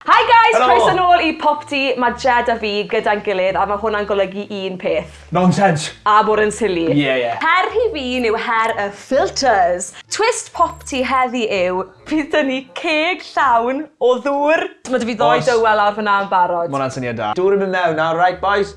Hi guys! Helo! Croeso nôl i Popty, ma' Jed a fi gyda'n gilydd a ma' hwnna'n golygu un peth. Nonsense! A bod yn silly. Ie ie. Her rhy fin yw her y filters! Twist Popty heddi yw, bydd 'da ni ceg llawn o ddŵr! Ma' 'da fi ddou dywel lawr fan'na yn barod. Ma' hwnna'n syniad da. Dŵr yn mynd mewn nawr, reit bois?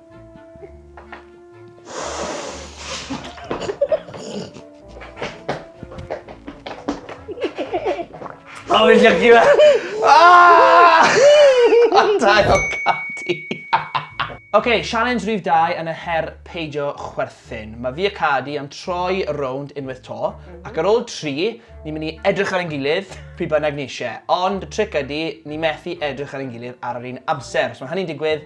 Oh, fi'n llygu fe! Ah! Antai o cati! OK, sialens rhif 2 yn y her peidio chwerthin. Mae fi a Cadi am troi y rownd unwaith to, ac ar ôl tri, ni'n mynd i edrych ar ein gilydd pryd bynnag ni eisiau. Ond y tric ydy, ni methu edrych ar ein gilydd ar yr un amser. Os mae hynny'n digwydd,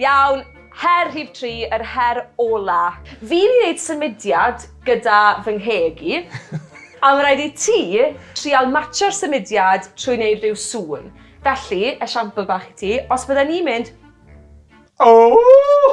Iawn, her rhif tri, yr her ola. Fi'n mynd i neud symudiad gyda fy ngheg i, a ma' raid i ti trial matsio'r symudiad trwy neud rhyw sŵn. Felly, esiampl bach i ti, os bydden i'n mynd, Ooh!